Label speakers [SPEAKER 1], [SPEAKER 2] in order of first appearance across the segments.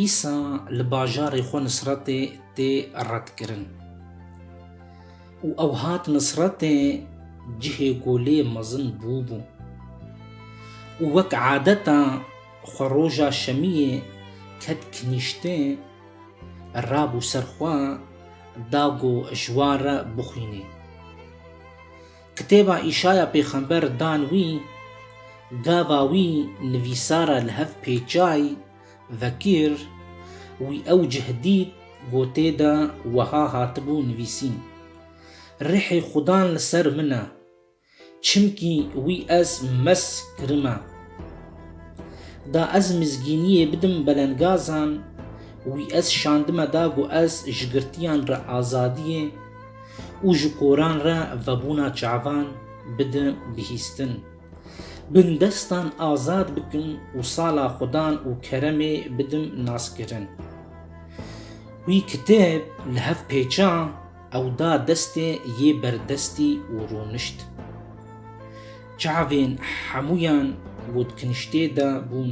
[SPEAKER 1] Îsa li bajarê xwe Nisretê tê redkirin û ew hat Nisretê cihê ku lê mezin bûbû û wek adeta xwe roja şemiyê ket kinîştê, rabû ser xwe da ku ji wan re bixwînê. Kitêba Îşaya pêxember dan wî, gava wî nivîsara li hev pêçay vekir, wî ew cih dît gotê de weha hatibû nivîsîn, Rihê Xudan li ser min e, çimkî wî ez mesk kirime. Da ez mizgîniyê bidim belengazan, wî ez şandime da ku ez ji girtiyan re azadiyê, û ji koran re vebûna çavan bidin bihîstin. Bindestan azad bikin û sala xwedan û keremê bidin naskirin. Wî kitêb li hev pêça ew da destê yê berdestî û rûnişt. Çavên hemûyan gotkiniştê de bûn.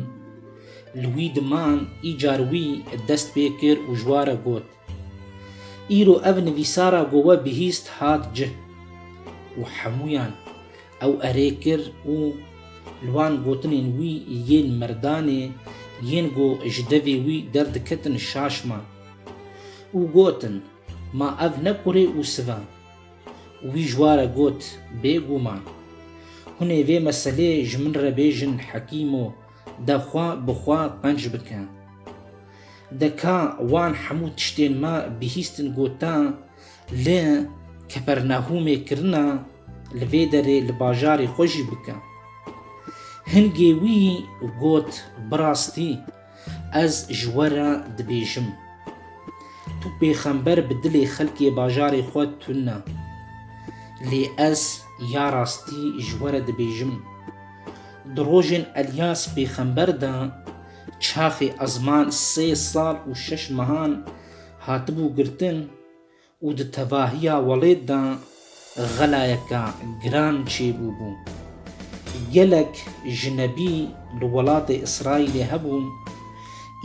[SPEAKER 1] Li wî di man îcar wî dest pê kir û ji wa re got. Îro ev nivîsara ku we bihîst hat cih û hemûyan ew erê kir û li wan gotinên wî yên merdanê yên ku ji devê wî derdiketin şaşma û gotin, Ma ev ne kurê û siv e. Wî ji ware got, Bêguman. Hûn ê vê meselê ji min re bêjin Hekîmo. De xwe bi xwe qenc bike. De ka wan hemû tiştên me bihîstin got e, li Kepernahûmê kirine, li vê derê li bajarê xwe jî bike. Hingê wî got, Bi rastî ez ji we re dibêjim. Tu pêxember bi dilê xelkê bajarê xwe tune. Lê ez ya rastî ji we re dibêjim. Di rojên Elyas pêxember de çaxê ezman sê sal û şeş mehan hatibû girtin û di tevahiya welêt de xelayeke giran çêbûbû. Gelek ji nebî li welatê Îsraîlê hebûn,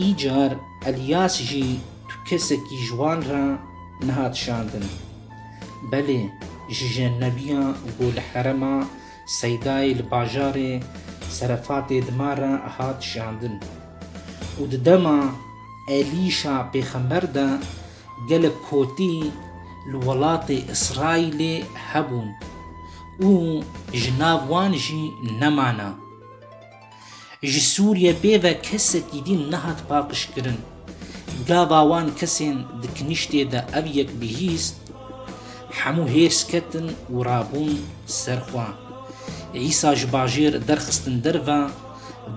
[SPEAKER 1] îcar Elyas jî tu kesekî ji wan re nehat şandin. Belê ji jenebiya ku li herema Seydayê li bajarê Serefatê dima re hat şiyandin û di dema êlîşa pêxember de gelek kotî li welatê Îsraîlê hebûn û ji nav wan jî nemane. Ji Sûriye bê ve kesekî din nehat paqijkirin. Gava wan kesên di kiniştê de ev yek bihîst, hemû hêrs ketin û rabûn ser xwe. Îsa ji bajêr derxistin derve,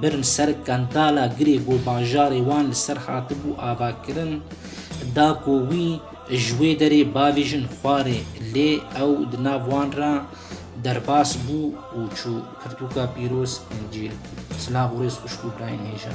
[SPEAKER 1] birin ser kandala girê ku bajarê wan li ser hatibû avakirin, da ku wî ji wê derê bavêjin xwarê, lê ew di nav wan re Derbas bû û çû. Pirtûka pîroz, Încîl. Silav û rêz xwişk û birayên hêja.